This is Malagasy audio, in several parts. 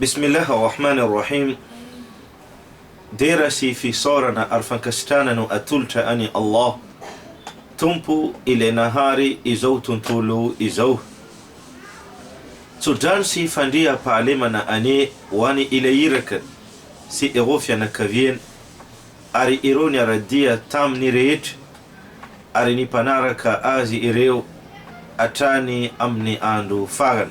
Bismillah Ar-Rahman Ar-Rahim Dera sy fisaorana ary fankasitrahana no atolotra an'i Allah, Tompo Ilay nahary izao tontolo izao. Tsodrano sy fandriampahalemana anie ho an'i Ilay Iraka sy ireo fianakaviany ary ireo niara-dia taminy rehetra ary ny mpanaraka azy ireo hatrany amin'ny andro farany.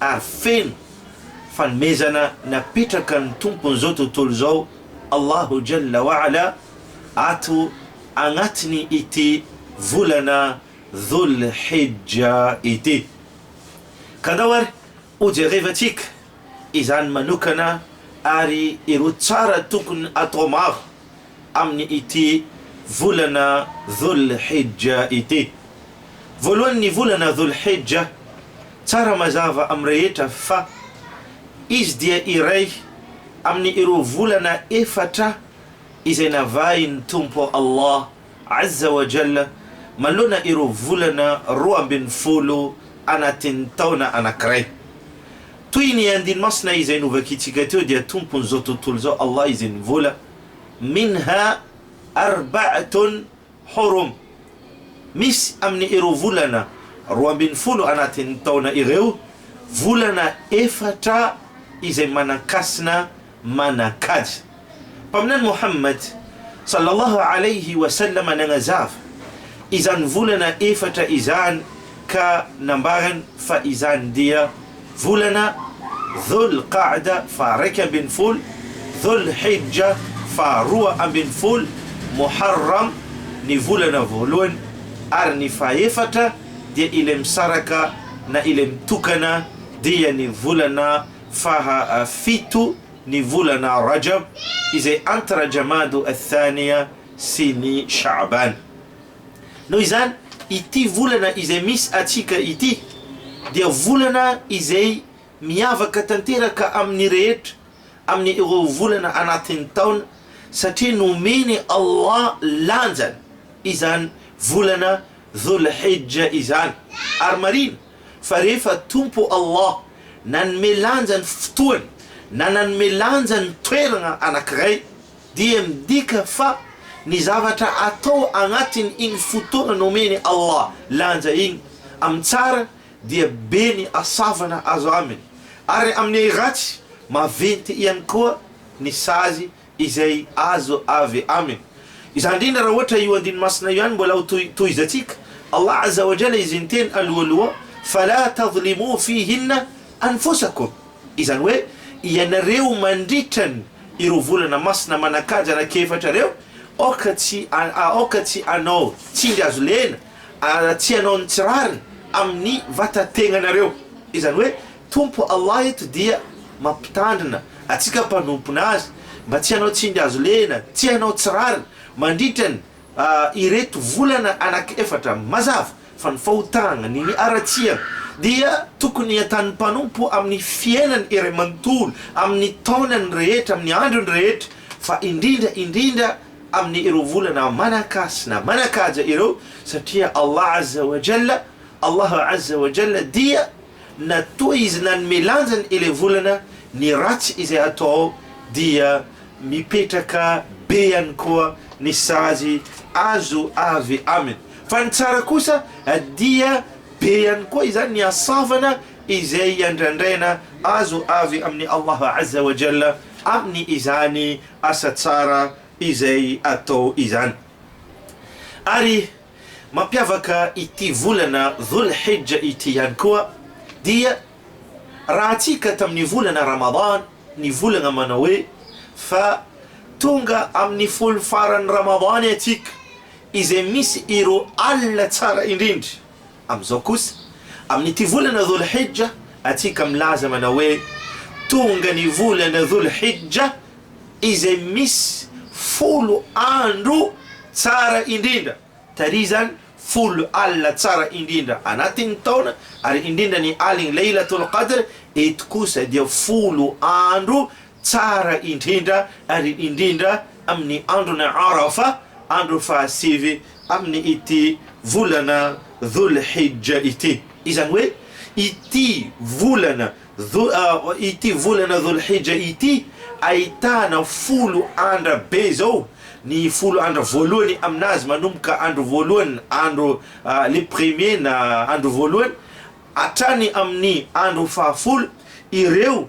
ary feno fanomezana napetrakan' ny Tompon' izao tontolo izao Allahu Jalla wa Ala ato agnatin' ity volana Dhul Hijja ity. Ka andao ary ho jerevantsika izany manokana ary ireo tsara tokony atao maro amin'ity volana Dhul-Hijja ity. Voalohan'ny volana Dhul-Hijja, tsara mazava amin'ny rehetra fa izy dia iray amin'ireo volana efatra izay navahin'ny Tompo Allah Azza wa Jalla, manoloana ireo volana roa ambin'ny folo anatin'ny taona anankiray. Toy ny andiny masina izay novakintsika teo dia Tompon'izao tontolo izao Allah izay nivola, Minha arba'atun hurum, Misy amin'ny ireo volana roa ambin'ny folo anatin'ny taona ireo volana efatra izay manan-kasina Manan-kaja. Mpaminany Mohammad, sallallahu alayhi wa sallam, nagnazava izany volana efatra izany ka nambarany fa izany dia volana Dhul Qa'da, faha raika ambin'ny folo, Dhul Hijja, faha roa ambin'ny folo, Muharram, ny volana voalohany, ary ny fahefatra dia ilay misaraka na ilay mitokana dia ny volana faha fito ny volana Rajab izay entre Jamadu Ath-Thaniya sy ny Sha'ban. Noho izany, ity volana izay misy antsika ity dia volana izay miavaka tanteraka amin'ny rehetra amin'ny ireo volana anatin'ny taona satria nomen'i Allah lanjany izany volana Dhul-Hijja izany ary marina Fa rehefa Tompo Allah nanome lanja ny fotoana na nanome lanja ny toerana anankiray, dia midika fa ny zavatra atao agnatin' igny fotoana nomen'i Allah lanja igny, amin'ny tsara dia be ny asavana azo aminy, ary amin'ny ratsy maventy ihany koa ny sazy izay azo avy aminy. Izany indrindra raha ohatra io andiny masina io ihany mbola ho tohizantsika, Allah azza wa jalla izy niteny alohaloha, Fala tadhlimu fihinna anfusakum, izany hoe, ianareo mandritra ny ireo volana masina manan-kaja anankiefatra ireo, aoka tsy aoka tsy hanao tsindry azo lena, ary tsy hanao ny tsy rariny amin'ny vatan-tegnanareo, izany hoe, Tompo Allah eto dia mampitandrina atsika mpanompona Azy mba tsy hanao tsindry hazo lehina, tsy hanao tsy rariny mandritra ny ireto volana anaky efatra. Mazava fa ny fahotagna ny ny haratsiagna dia tokony atanin'ny mpanompo amin'ny fiainany iray manontolo, amin'ny taonany rehetra, amin'ny androny rehetra, fa indrindra indrindra amin'ny ireo volana manan-kasina, manan-kaja ireo, satria Allah Azza wa Jalla, Allah Azza wa Jalla dia. Na toa izy nanome lanjany ilay volana, ny ratsy izay hatao dia mipetraka be ihany koa ny sazy azo avy aminy. Fa ny tsara kosa dia be ihany koa izany ny hasavana izay iandrandraina azo avy amin'i Allah Azza wa Jalla amin'ny izany asa tsara izay atao izany. Ary Mampiavaka ity volana Dhul Hijja ity ihany koa dia rahantsika tamin'ny volana Ramadan ny volana manao hoe fa tonga amin'ny folo faran'ny Ramadan atsika izay misy ireo alina tsara indrindra Amin'izao kosa, amin'ity volana Dhul-Hijja, antsika milaza manao hoe, Tonga ny volana Dhul-Hijja izay misy folo andro tsara indrindra, taria izany folo alina tsara indrindra anatin'ny taona, ary indrindra ny alin'ny Laylatul-Qadr, eto kosa dia folo andro Tsara indrindra ary indrindra amin'ny andron'ny Arafa, andro fahasivy amin'ny ity volana Dhul Hijja ity. Izany hoe ity volana ity volana Dhul Hijja ity ahitana folo andra be izao, ny folo andra voalohany aminazy manomboka andro voalohany andro le premier na andro voalohany hatrany amin'ny andro fahafolo ireo,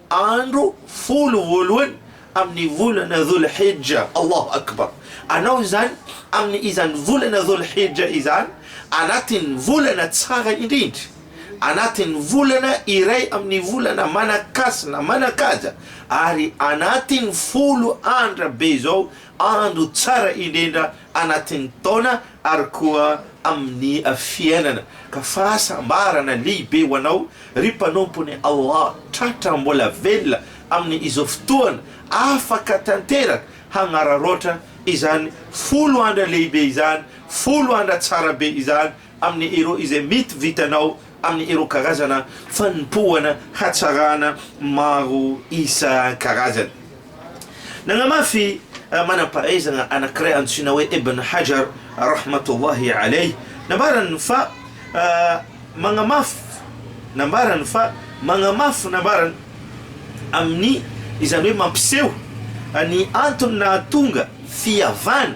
andro folo voalohany amin'ny volana Dhul Hijja, Allahu Akbar, anao izany amin'ny izany volana Dhul Hijja izany anatin'ny volana tsara indrindra, anatin'ny volana iray amin'ny volana manan-kasina, manan-kaja, ary anatin'ny folo andra be izao andro tsara indrindra anatin'ny taona ary koa amin'ny fiainana, ka fahasambarana lehibe ho anao, ry mpanompon'i Allah, tratra mbola velona amin'ny izao fotoana afaka tanteraka hagnararaotra izany folo andra lehibe izany, folo andra tsara be izany, amin'ny ireo izay mety vitanao amin'ny ireo karazana fanompoana hatsarana maro isan-karazany. Nagnamafy manam-pahaizana anankiray antsoina hoe Ibn Hajar rahmatullahi alayh nambarany fa magnamafy nambarany fa magnamafy nambarany amin'ny izany hoe mampiseho ny antony nahatonga fihavana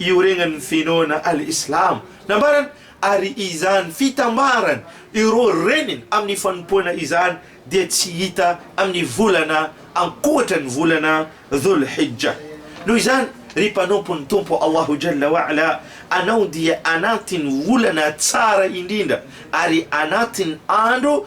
iorenan'ny finoana Al-Islam, nambarany, ary izany fitambaran' ireo reniny amin'ny fanompoana izany dia tsy hita amin'ny volana ankoatra ny volana Dhul-Hijja. Noho izany, ry mpanompon'ny Tompo Allahu Jalla wa Ala, anao dia anatin'ny volana tsara indrindra ary anatin'ny andro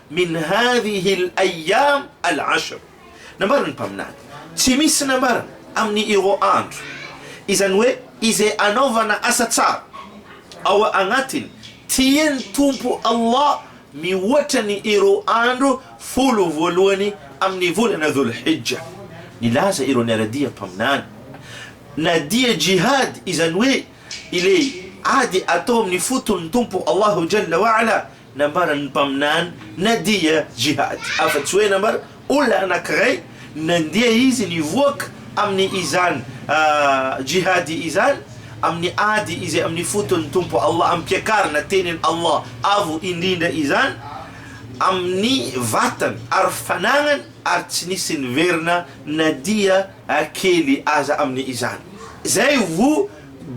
Min hadhihi al-ayyam al-ashr, nambaran'ny Mpaminany, tsy misy nambarana amin'ny ireo andro, izany hoe izay anaovana asa tsara ao agnatiny, tian'ny Tompo Allah mihoatra ny ireo andro folo voalohany amin'ny volana Dhul-Hijja. Nilaza ireo niara-dia Mpaminany, na dia jihad, izany hoe ilay ady atao amin'ny foton'ny Tompo Allahu Jalla wa Ala, Nambaran'ny mpaminany Nadia Jihad afa-tsy hoe nambara olona anankiray nandeha izy nivoaka amin'ny izany Jihady izany amin'ny ady izay amin'ny foton'ny Tompo Allah ampiakarina tenin' Allah Avo indrindra izany amin'ny vatany ary fanagnany ary tsy nisy niverina na dia kely aza amin' izany izay voa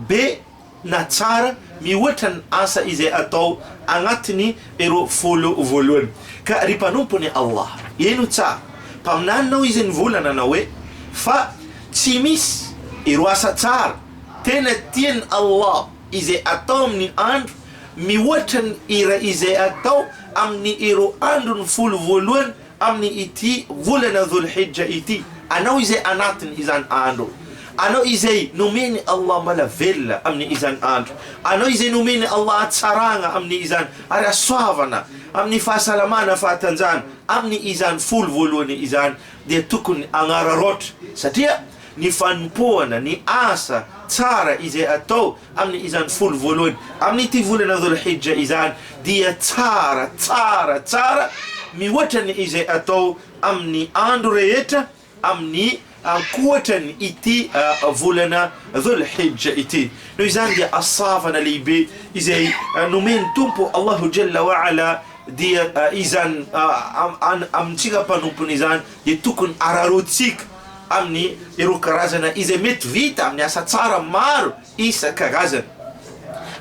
be na tsara mihoatra ny asa izay atao agnatiny ireo folo voalohany. Ka ry mpanompony Allah, heno tsara, mpaminaninao izy nivolana anao hoe, fa tsy misy ireo asa tsara tena tiany Allah izay atao amin'ny andro mihoatra ny iray izay atao amin'ny ireo androny folo voalohany, Amin' ity volana Dhol-Hijja ity, anao izay anatin' izany andro, anao izay nomen' Allah mbala velona amin' izany andro, anao izay nomen' Allah hatsaragna amin' izany ary hasoavana amin' ny fahasalamana fahatanjahana amin' izany folo voalohany izany, dia tokony hagnararaotra, satria ny fanompoana, ny asa tsara izay atao, Amin' izany folo voalohany amin' ity volana Dhul-Hijja izany dia tsara, tsara, tsara mihoatra ny izay atao amin' ny andro rehetra amin' ny ankoatran' ity volana Dhul-Hijja ity. Noho izany dia asavana lehibe izay nomen' ny Tompo Allahu Jalla wa Ala dia izany an' an amin-tsika mpanompony izany dia tokony araraotsika. amin'ny ireo karazana izay mety vita amin'ny asa tsara maro isan-karazany,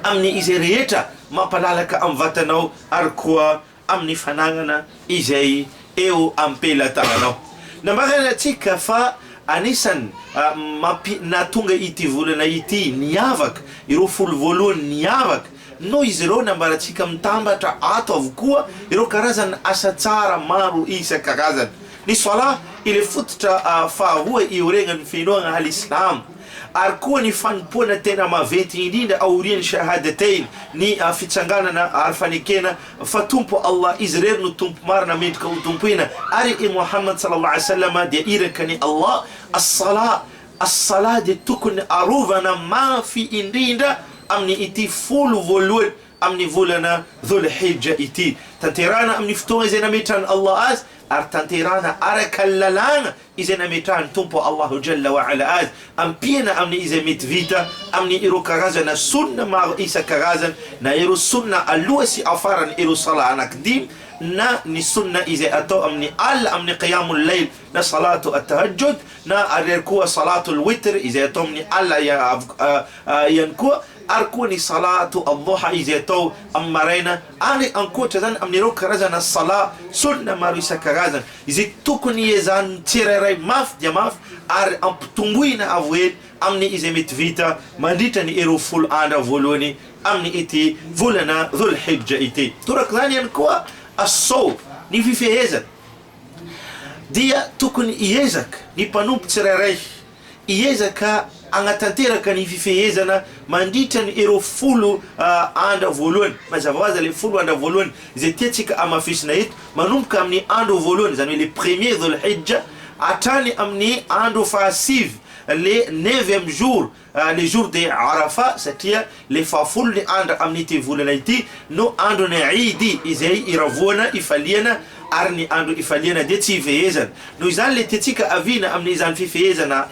amin'ny izay rehetra mampalalaka amin'ny vatanao ary koa amin'ny fanagnana izay eo am-pelatananao. Nambarantsika fa anisan'ny mampi-nahatonga ity volana ity niavaka, ireo folo voalohany niavaka, Noho izy ireo nambarantsika mitambatra ato avokoa ireo karazana asa tsara maro isan-karazany. Ny Salah, ilay fototra faharoa ioregan'ny finoana al-Islam, ary koa ny fanompoana tena maventy indrindra aorian'ny Shahadatain, ny fitsanganana ary fanekena fa Tompo Allah, Izy irery no Tompo marina mendrika hotompoina, ary i Mohammad, sallallahu alayhi wa sallam, dia Irakan'i Allah. As-Salah. As-Salah dia tokony arovana mafy indrindra amin' ity folo voalohany amin' ny volana Dhul-Hijja ity, tanterahina amin' ny fotoana izay nametrahan' Allah azy, ary tanterahina araka ny lalàna izay nametrahan' ny Tompo Allahu Jalla wa Ala azy, ampiana amin' izay mety vita amin' ireo karazana Sunnah maro isan-karazany, na ireo Sunnah aloha sy afaran' ireo Salah anankidimy, na ny Sunnah izay atao amin' ny alina amin' ny Qiyâmul-Layl. na Salatu At-Tahajjud na ary ary koa Salatul Witr izay atao amin'ny alina ihany koa ary koa ny Salatu Ad-Duha izay atao amin'ny maraina ary ankoatra izany amin'ireo karazana Salat Sunna maro isan-karazany izay tokony iezahan'ny tsirairay mafy dia mafy ary ampitomboina avo ela amin'ny izay mety vita mandritra ny ireo folo andro voalohany amin'ny ity volana Dhul-Hijja ity. Torak'izany ihany koa As-Sawm, ny fifehezana. dia tokony hiezaka ny mpanompo tsirairay hiezaka hagnatanteraka ny fifehezana mandritra ny ireo folo andra voalohany. Mazava ho azy ilay folo andra voalohany izay tiantsika hamafisina eto, manomboka amin'ny andro voalohany, izany hoe le premier Dhul-Hijja, hatrany amin'ny andro fahasivy, le neuvième jour, Le jour de Arafa satria le fahafolo ny andra amin'ity volana ity no andron'ny Eid izay iravoana, ifaliana, ary ny andro ifaliana dia tsy ifehezana. Noho izany le tiantsika aviana amin'izany fifehezana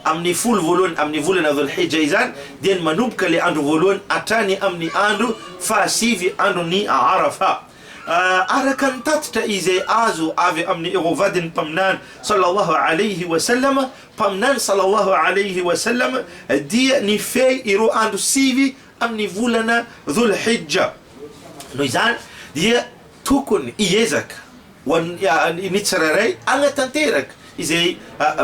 amin'ny folo voalohany amin'ny volana Dhul Hijja izany dia ny manomboka le andro voalohany hatrany amin'ny andro fahasivy andron'ny Arafa. Araka ny tatitra izay azo avy amin'i Erohvadin'ny Mpaminany Sallallahu Alaihi Wasallam, Mpaminany salallahu alaihi wa sallam dia nifehy ireo andro sivy amin'ny volana Dhul Hijja. Noho izany dia tokony hiezaka ho an'ny ny tsirairay hanatanteraka izay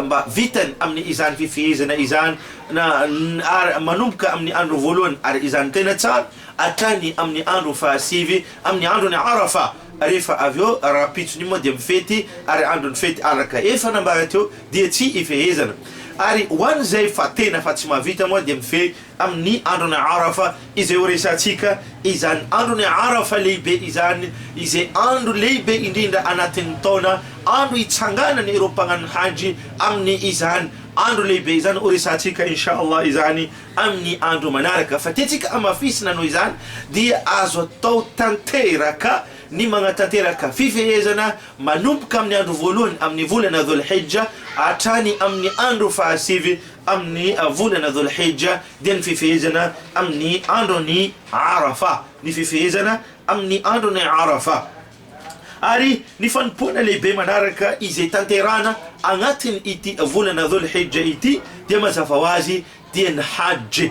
mba vitany amin'ny izany fifehezana izany na ary manomboka amin'ny andro voalohany ary izany tena tsara hatrany amin'ny andro fahasivy amin'ny andron'i Arafa rehefa avy eo rahampitso ny moa dia mifety ary andron'ny fety araka efa nambara teo dia tsy ifehezana. Ary ho an'izay fa tena fa tsy mahavita moa dia mifehy amin'ny andron'i Arafa izay ho resahantsika, izany andron'i Arafa lehibe izany izay andro lehibe indrindra anatin'ny taona, andro hitsanganany ireo mpagnano Hajy amin'ny izany andro lehibe izany, ho resahantsika Insha Allah izany amin'ny andro manaraka. Fa tiantsika amafisina noho izany dia azo atao tanteraka ny magnatanteraka fifehezana Manomboka amin'ny andro voalohany amin'ny volana Dhul Hijja hatrany amin'ny andro fahasivy amin'ny volana Dhul Hijja dia ny fifehezana amin'ny andron'ny Arafa, ny fifehezana amin'ny andron'ny Arafa. Ary ny fanompoana lehibe manaraka izay tanterahana agnatin'ity volana Dhul Hijja ity dia mazava ho azy dia ny Hajj,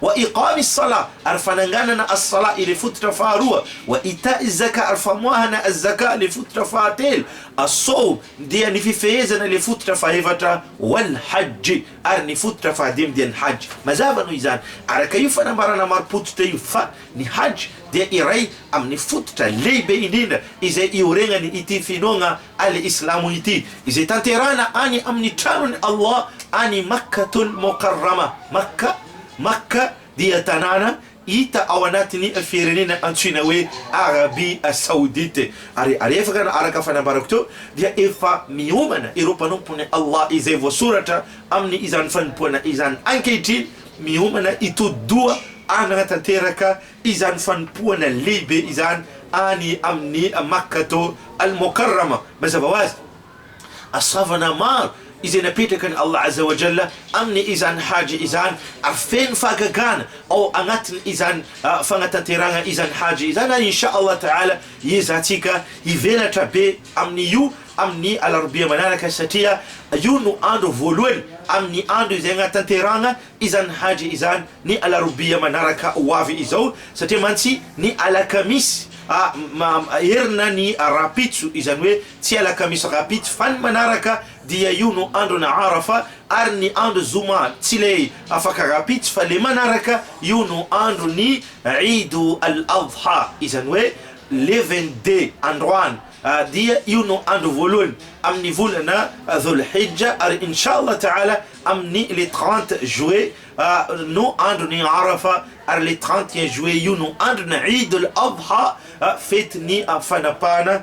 Wa iqamis salah, ary fananganana as-salah ilay fototra faharoa, wa ita'iz zakah, ary famoahana az-zakah ilay fototra fahatelo, as-sawm, dia ny fifehezana ilay fototra fahefatra, wal hajj, ary ny fototra fahadimy dia ny hajj. Mazava noho izany, araka io fanambarana marim-pototra io, fa ny hajj dia iray amin'ny fototra lehibe indrindra izay ioregnany ity finoagna Al-Islamo ity, izay tanterahina any amin' ny Tranon' i Allah any Makkatul-Mokarramah, Makka, Makka dia tanàna hita ao anatin' ny firenena antsoina hoe Arabia Saodite, ary alefaka na araka fanambarako teo dia efa miomana ireo mpanompon' i Allah izay voasoratra amin' izany fanompoana izany ankehitriny, miomana hitodi-doha hanatanteraka izany fanompoana lehibe izany any amin'ny Makkah-to al-Mokarrama, mazava ho azy, asavana maro izay napetrakan'i Allah Azza wa Jalla amin'ny izany Hajj izany, ary feno fahagagana ao anatin' izany fagnatanterahana izany Hajj izany, ary Insha Allah Ta'ala hiezahantsika hivelatra be amin'io amin'ny alarobia manaraka satria io no andro voalohany amin'ny andro izay agnatanterahana izany Hajj izany ny alarobia manaraka ho avy izao satria mantsy ny alakamisy herina ny rahampitso izany hoe tsy alakamisy rahampitso fa ny manaraka dia io no andron'ny Arafa ary ny andro zoma tsy ilay afaka rahampitso fa le manaraka io no andron'ny Eid al Adha izany hoe le vingt deux androany dia io no andro voalohany amin'ny volana Dhul Hijja ary Inshallah Ta'ala Amin'ny le trente juillet no andron'ny Arafa, ary le trente et un juillet io no andron'ny Eid al-Adha, fetin'ny fanapahana,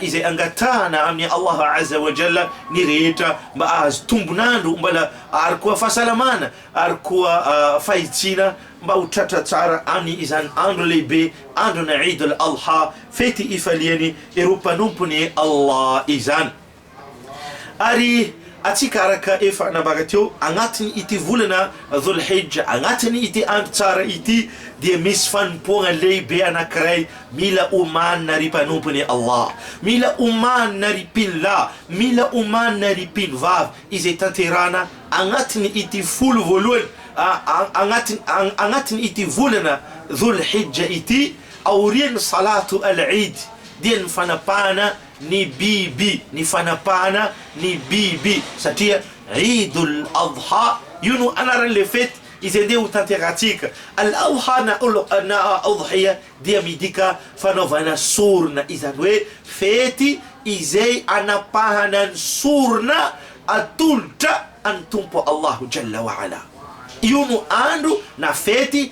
izay angatahana amin'i Allah Azza wa Jalla ny rehetra mba hahazo tombon'andro mbala ary koa fahasalamana ary koa fahitsiana mba ho tratra tsara amin' izany andro lehibe andron'ny Eid al-Adha, fety ifaliany ireo mpanompony Allah izany. Ary antsika araka efa nambara teo, agnatin' ity volana Dhul Hijja, agnatin' ity andro tsara ity dia misy fanompoagna lehibe anankiray mila omanina ry mpanompon' i Allah, mila omanina ry mpino lahy, mila omanina ry mpino vavy, izay tanterahana agnatin' ity folo voalohany agnatin' agnatin' ity volana Dhul Hijja ity, aorian' ny Salatu Al-Eid, dia ny fanapahana ny biby ny fanapahana ny biby satria Eid al Adha io no anaran'ilay fety izay andeha ho tanterahintsika. Al Adha na na Udhiya dia midika fanaovana sorona izany hoe fety izay anapahana ny sorona atolotra an'ny Tompo Allahu Jalla wa Ala. Io no andro na fety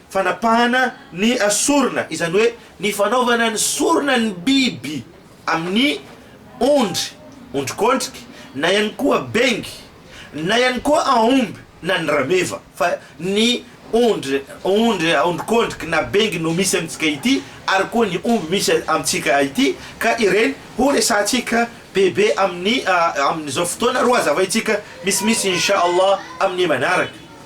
Fanapahana ny sorona, izany hoe ny fanaovana ny sorona ny biby amin'ny ondry, ondrikondriky, na ihany koa bengy, na ihany koa aomby na ny rameva, fa ny ondry, ondry, ondrikondriky na bengy no misy amintsika ity ary koa ny omby misy amintsika ity ka ireny ho resahantsika bebe amin'ny amin'izao fotoana ro hazavaintsika misimisy Inch'Allah amin'ny manaraka.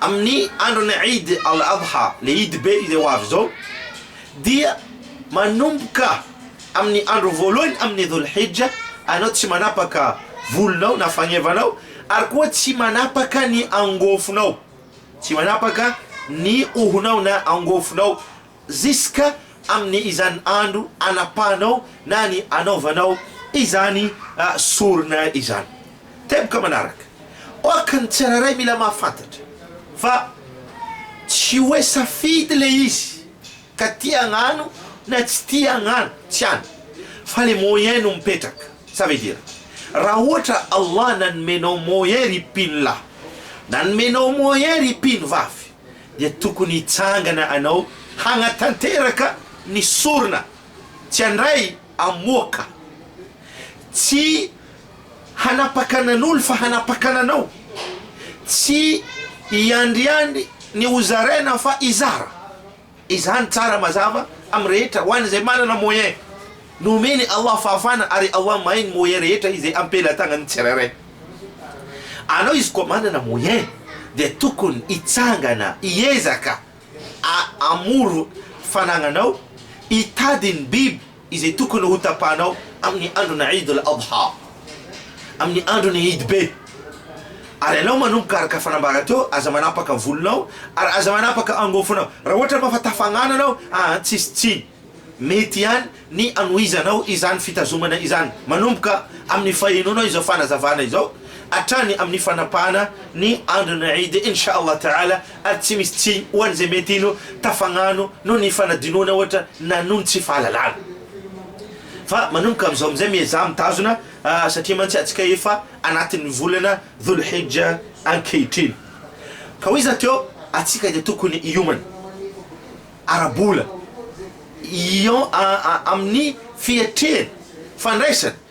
amin'ny andron'ny Eid al-Adha, le Idy be izay ho avy izao, dia manomboka amin'ny andro voalohany amin'ny Dhul-Hijja anao tsy manapaka volonao na fagnevanao ary koa tsy manapaka ny angofonao, tsy manapaka ny hohonao na angofonao, Ziska amin'ny izany andro anapahanao na ny anaovanao izany sorona izany. Teboka manaraka. Ok ny tsirairay mila mahafantatra fa tsy hoe safidy le izy ka tia agnano na tsy tia agnano, tsy any fa le moyen no mipetraka. Ça veut dire raha ohatra Allah nanomenao moyen ry mpino lahy, nanomenao moyen ry mpino vavy, dia tokony hitsangana anao hanatanteraka ny sorona tsy handray amoaka tsy hanapaka anan'olo fa hanapaka ananao tsy hiandriandry ny hozaraina fa hizara Izany tsara mazava amin'ny rehetra ho an'izay manana moyen. Nomen'i Allah fahafana ary Allah mahay ny moyen rehetra izay am-pelatàgnan'ny tsirairay. Anao izy koa manana moyen dia tokony hitsangana hiezaka a hamory fanagnanao hitady ny biby izay tokony ho tapahanao amin'ny andron'ny Eid al-Adha, amin'ny andron'ny Eid be. Ary ianao manomboka araka fanambara teo, aza manapaka volonao, ary aza manapaka angofonao. Raha ohatra moa fa tafangana ianao, aa tsisy tsiny. Mety ihany ny anohizanao izany fitazomana izany, manomboka amin'ny fahenoanao izao fanazavana izao, hatrany amin'ny fanapahana ny andron'ny Eid, Insha Allah Ta'ala, ary tsy misy tsiny ho an'izay mety hino tafagnano noho ny fanadinoana ohatra na noho ny tsy fahalalana. Fa manomboka amin'izao amin'izay miezaha mitazona satria mantsy antsika efa anatin'ny volana Dhul Hijja ankehitriny. Ka hoy iza teo antsika dia tokony hiomana ara-bola ion amin'ny fiatrehana fandraisana.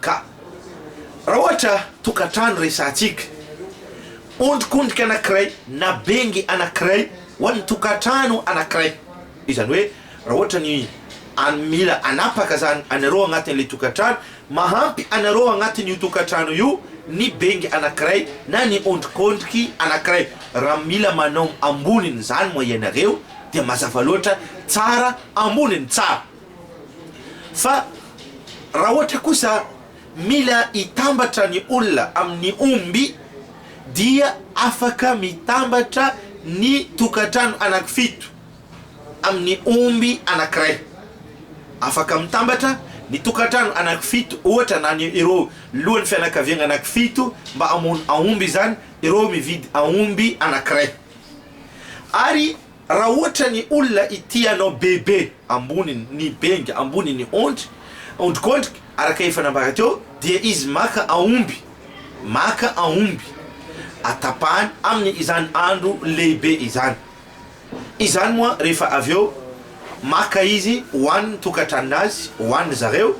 Ka raha ohatra tokantrano resahantsika, ondrikondrika anankiray na bengy anankiray ho an'ny tokantrano anankiray, izany hoe raha ohatra ny an mila anapaka zany anareo agnatin'ilay tokantrano, mahampy anareo agnatin'io tokantrano io ny bengy anankiray na ny ondrikondriky anankiray, raha mila manao ambonin'izany moa ianareo dia mazava loatra, tsara amboniny tsara. Fa raha ohatra kosa mila hitambatra ny olona amin'ny omby dia afaka mitambatra ny tokantrano anankifito amin'ny omby anankiray. Afaka mitambatra ny tokantrano anankifito ohatra na ny ireo lohan'ny fianakaviagna anankifito mba hamono aomby izany ireo mividy aomby anankiray ary Raha ohatra ny olona ity anao bebe ambony ny benga ambony ny ondry ondrikondrika araka efa nambara teo dia izy maka aomby maka aomby atapahany aminy izany andro lehibe izany izany moa rehefa avy eo maka izy ho an ny tokatranony azy ho an ny zareo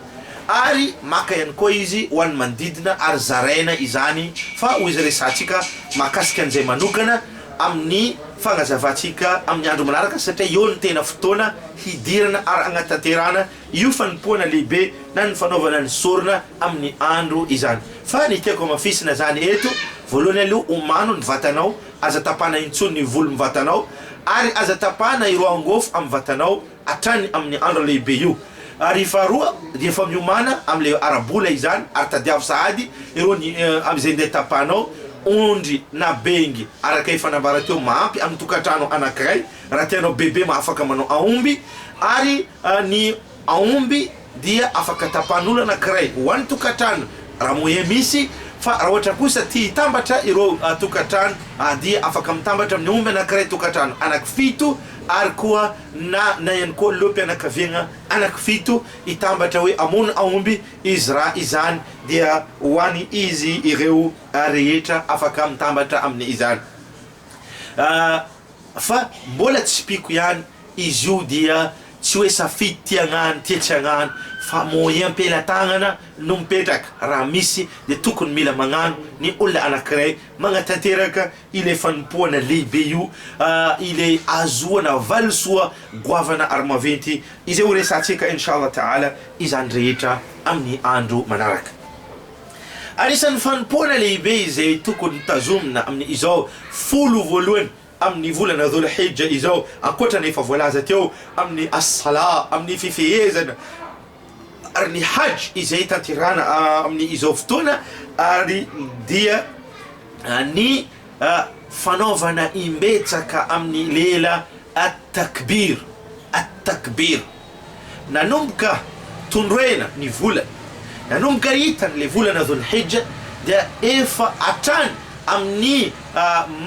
ary maka ihany koa izy ho an ny manodidina ary zaraina izany fa ho izy resahantsika mahakasika an'izay manokana amin'ny fanazavantsika amin'ny andro manaraka satria eo no tena fotoana hidirana ary hanatanterahana io fanompoana lehibe na ny fanaovana ny sorona amin'ny andro izany. Fa ny tiako hamafisina izany eto, voalohany aloha omano ny vatanao, aza tapahana intsony ny volo amin'ny vatanao ary aza tapahana ireo angôfo amin'ny vatanao, hatrany amin'ny andro lehibe io, ary faharoa dia efa miomana amin'ilay ara-bola izany, ary tadiavo sahady ireo ny amin'izay ndeha tapahanao, ondry na bengy araka efa nambara teo, mahampy amin'ny tokantrano anankiray raha tianao bebe mahafaka manao aomby, ary ny aomby. dia afaka tapahan'olona anankiray ho an'ny tokantrano raha moa ee misy, fa raha ohatra kosa tia hitambatra ireo tokantrano dia afaka mitambatra amin'ny omby anankiray tokantrano anankifito ary koa na na ihany koa lohampianakaviagna anankifito hitambatra hoe hamono aomby izy raha izany dia ho any izy ireo rehetra afaka mitambatra amin'ny izany fa mbola tsy mpiko ihany Izy io dia tsy hoe safidy ty agnany ty atsy agnany fa moyen pelatagnana no mipetraka raha misy dia tokony mila magnano ny olona anakiray magnatanteraka ilay fanompoana lehibe io ilay ahazoana valisoa goavana ary maventy izay ho resahantsika Inch'Allah Ta'ala izany rehetra amin'ny andro manaraka. Anisan'ny fanompoana lehibe izay tokony tazomina amin'izao folo voalohany amin'ny volana Dhul Hijja izao, ankoatra ny efa voalaza teo amin'ny As-Salah, amin'ny fifehezana, ary ny Hajj izay tanterahana amin'ny izao fotoana, ary dia ny fanaovana imbetsaka amin'ny lela At-Takbir, At-Takbir. Nanomboka tondroina ny volana, nanomboka hitany le volana Dhul Hijja dia efa hatrany amin'ny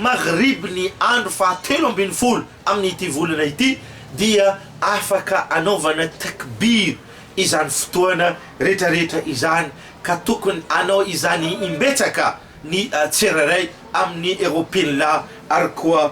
maghribn'ny andro faha telo ambin'ny folo amin'ity volana ity dia afaka anaovana takbir izany fotoana retraretra izany ka tokony hanao izany imbetsaka ny tsirairay amin'ny roapinlahy ary koa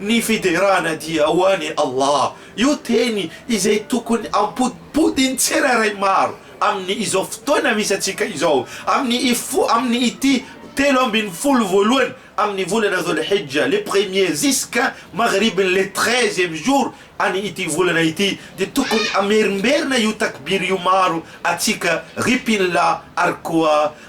Ny fiderana dia ho an'i Allah, io teny izay tokony ampodipodin'ny tsirairay maro amin'ny izao fotoana misy antsika izao, amin'ny i fo, amin'ny ity telo ambin'ny folo voalohany amin'ny volana Dhul Hijja, le premier ziska maghribiny le treizième jour any ity volana ity, dia tokony amerimberina io takbir io maro atsika ry mpinlah ary koa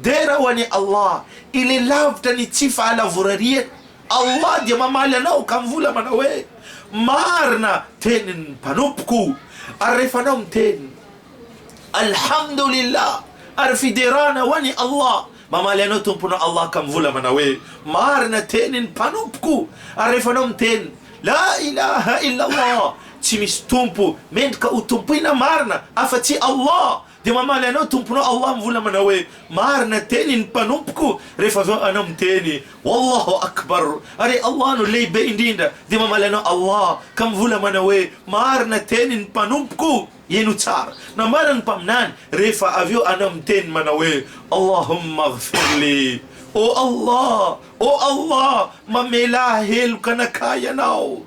Dera ho an'i Allah, Ilay lavitra ny tsy fahalavorariany. Allah dia mamaly anao ka mivola manao hoe, Marina tenin'ny mpanompoko. Ary rehefa anao miteny, Alhamdulillah, ary fiderana ho an'i Allah, mamaly anao Tomponao Allah ka mivola manao hoe, Marina tenin'ny mpanompoko. Ary rehefa anao miteny, La ilaha illallah, tsy misy tompo mendrika ho tompoina marina afa-tsy Allah, Dia mamaly anao tomponao ao amin'ny vola manao hoe, Marina teny ny mpanompoko, rehefa avy eo anao miteny, Wallahu Akbar, ary Allah no lehibe indrindra, dia mamaly anao Allah ka mivola manao hoe, Marina teny ny mpanompoko, ie no tsara, nambaran'ny Mpaminany, rehefa avy eo anao miteny manao hoe, Allahumma ighfir li, Ô Allah, ô Allah, mamelà heloka anakahy Ianao.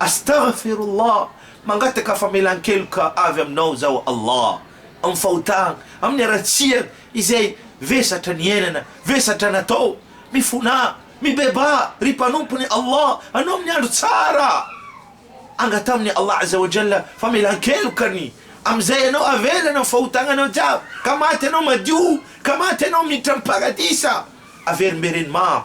Astaghfirullah, mangataka famelan-keloka avy Aminao zaho Allah, amin'ny fahotana, amin'ny haratsiana izay vesatra niainana, vesatra natao, mifonà, mibebaha ry mpanompony Allah anao amin'ny andro tsara, angataho amin'i Allah Azza wa Jalla famelan-kelokany amin'izay anao avelana ny fahotananao jiaby ka maty anao madio ka maty anao miditra amin'ny paradisa averimbereny maro.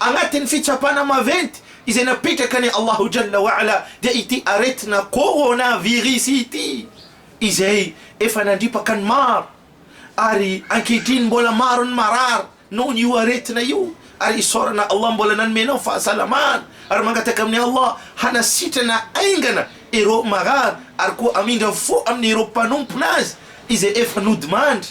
Agnatin'ny fitsapana maventy izay napetraka an'i Allahu Jalla wa Ala dia ity aretina coronavirus ity izay efa nandripaka ny maro ary ankehitriny mbola maro ny marary nohon io aretina io ary isaorana Allah mbola nanome anao fahasalamana ary mangataka amin'i Allah hanasitrana aingana ireo marary ary koa hamindra fo amin'ireo mpanompona azy izay efa nodimandry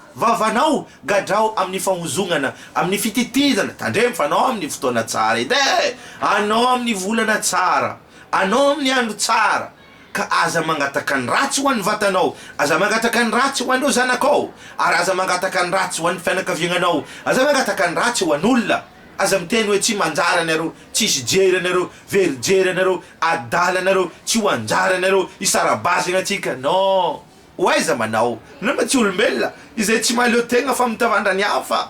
Vavanao, gadrao amin'ny fahozognana, amin'ny fititidana, tandremo fa anao amin'ny fotoana tsara edy e! Anao amin'ny volana tsara, anao amin'ny andro tsara, ka aza mangataka ny ratsy ho an'ny vatanao, aza mangataka ny ratsy ho an'ireo zanakao, ary aza mangataka ny ratsy ho an'ny fianakaviagnanao, aza mangataka ny ratsy ho an'olona, aza miteny hoe tsy manjary anareo, tsisy jery anareo, very jery anareo, adala anareo, tsy ho anjara anareo, hisara-bazana antsika, non! Ho aiza manao? Nareo mba tsy olombelona izay tsy mahaleo tegna fa mitavandra ny hafa?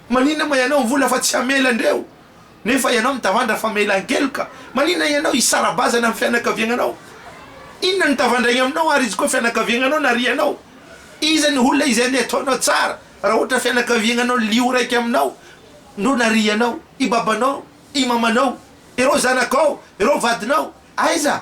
Maninona ma ianao vola fa tsy hamela andreo nefa ianao mitavandra fa mela ankeloka? Maninona ianao hisara-bazana amin'ny fianakaviagnanao? Inona no tavandraigny aminao ary izy koa fianakaviagnanao narianao? Iza ny olona izay andeha ataonao tsara raha ohatra fianakaviagnanao lio raiky aminao no narianao? I babanao? I mamanao? Ireo zanakao? Ireo vadinao? Aiza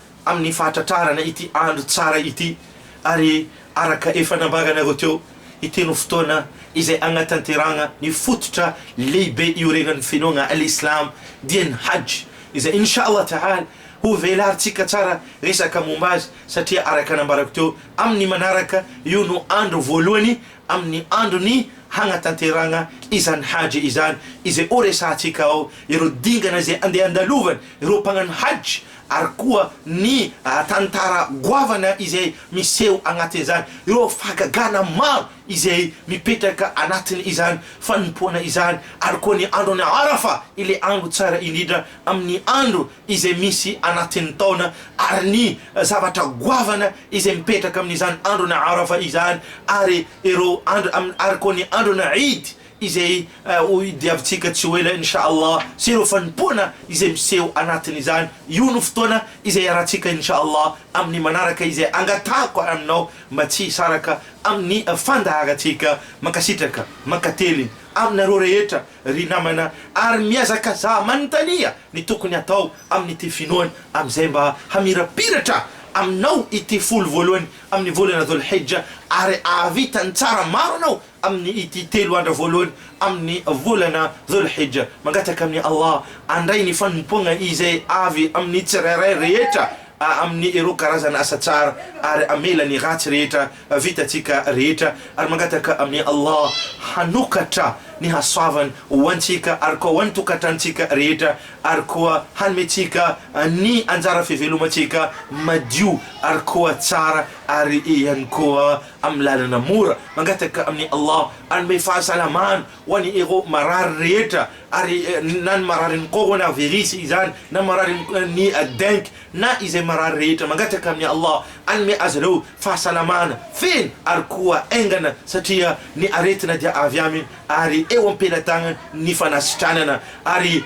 amin'ny fahatratrarana ity andro tsara ity, ary araka efa nambaranareo teo, ity no fotoana izay hanatanterahana ny fototra lehibe iorenan'ny finoana al-Islam, dia ny Hajj, izay Insha Allah Tahala ho velarintsika tsara resaka momba azy, satria araka nambarako teo, amin'ny manaraka, io no andro voalohany amin'ny andron'ny hanatanterahana izany Hajj izany, izay horesahantsika ao ireo dingana izay andeha handalovany ireo mpanano Hajj, ary koa ny tantara goavana izay miseho agnatin'izany, ireo fahagagana maro izay mipetraka anatin' izany fanompoana izany, ary koa ny andron' Arafa, ilay andro tsara indrindra amin' ny andro izay misy anatin' ny taona, ary ny zavatra goavana izay mipetraka amin' izany andron' Arafa izany, ary ireo andro, ary koa ny andron' Eid, izay ho diavintsika tsy ho ela Insha Allah sy ireo fanompoana izay miseho anatin'izany, io no fotoana izay hiarahantsika Insha Allah amin'ny manaraka izay angatahako ary aminao mba tsy hisaraka amin'ny fandaharantsika, mankasitraka mankateliny aminareo rehetra ry namana ary mihazakazaha manontania ny tokony hatao amin'ity finoana amin'izay mba hamirapiratra aminao ity folo voalohany amin'ny volana Dhul-Hijja ary ahavita ny tsara maro anao Amin' ity telo andro voalohany amin' ny volana Dhul-Hijja, mangataka amin' i Allah handray ny fanompoana izay avy amin' ny tsirairay rehetra amin' ny ireo karazana asa tsara ary hamela ny ratsy rehetra vitantsika rehetra, ary mangataka amin' i Allah hanokatra ny hasoavany ho antsika ary koa ho an' ny tokantranontsika rehetra ary koa hanome antsika ny anjara fivelomantsika madio ary koa tsara ary ihany koa amin'ny lalana mora, mangataka amin'i Allah hanome fahasalamana ho an'ireo marary rehetra, ary na ny mararin'ny coronavirus izany, na mararin'ny dengue, na izay marary rehetra, mangataka amin'i Allah hanome azy ireo fahasalamana feno ary koa haingana, satria ny aretina dia avy Aminy, ary eo am-pelatanany ny fanasitranana, ary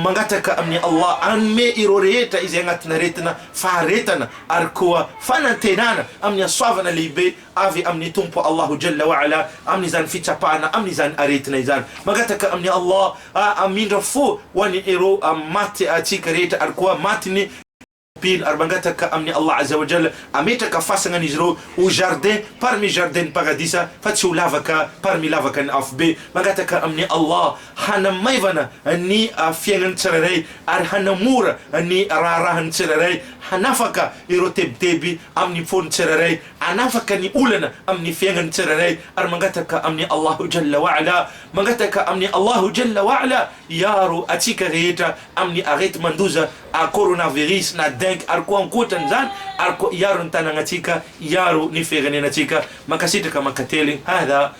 mangataka amin'i Allah hanome ireo rehetra izay anatin'aretina faharetana ary koa fanantenana amin'ny hasoavana lehibe avy amin'ny Tompo Allahu Jalla wa Ala amin'izany fitsapana amin'izany aretina izany. Mangataka amin'i Allah hamindra fo ho an'ny ero maty antsika rehetra ary koa matin'ny mpino ary mangataka amin'i Allah Azza wa Jalla hametraka fasana an'izy ireo ho jardin parmi jardin-n'ny paradisa fa tsy ho lavaka parmi lavakan'ny afobe. Mangataka amin'i Allah hanamaivana ny fiainan'ny tsirairay ary hanamora ny raharahan'ny tsirairay, hanafaka ireo tebiteby amin'ny fon'ny tsirairay, hanafaka ny olana amin'ny fiainan'ny tsirairay ary mangataka amin'i Allahu Jalla wa Ala, mangataka amin'i Allahu Jalla wa Ala hiaro antsika rehetra amin'ny areti-mandoza coronavirus na dengue ary koa ankoatran'izany ary koa hiaro ny tanàgnantsika, hiaro ny firenenantsika. Mankasitraka mankateligny. Hadha.